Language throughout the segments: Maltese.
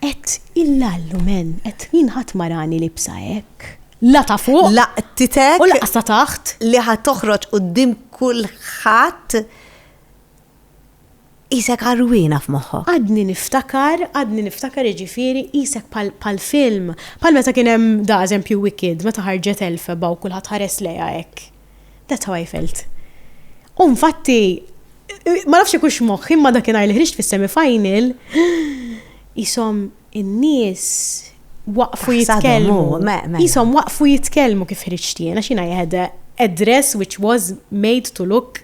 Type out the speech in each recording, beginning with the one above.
Qed illallu men, qed jien ħadd ma rani libsa hekk. La ta' fuq. Laqtitek. U laqqas ta' taħt. Li ħa toħroġ quddiem kulħadd qisek għarwiena f'moħħok. Għadni niftakar, għadni niftakar jiġifieri qisek bħal film, bħal meta kien hemm da eżempju Wicked, meta ħarġet Elphaba u kulħadd ħares lejha hekk. That's how I felt. U infatti, ma nafx ikux moħħi imma dakinhar li ħriġt fis-semifinal, jisom in-nies waqfu jitkellmu. Jisom mela. waqfu jitkellmu kif ħriġt jiena xina jahda a dress which was made to look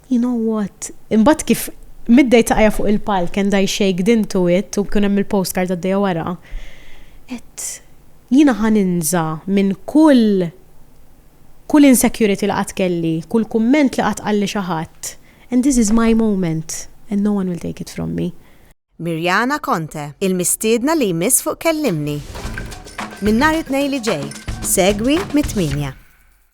You know what? Imbagħad kif middej saqajja fuq il-palk and I shaked into it u kien hemm il-postcard għaddejja wara, għedt jiena ħa ninża' minn kull kull insecurity li qatt kelli, kull kumment li qatt qalli xi ħadd and this is my moment and no one will take it from me. Mirjana Conte, il-mistiedna li jmiss fuq Kellimni! Minn nhar it-Tnejn li ġej, segwi mit-tmienja.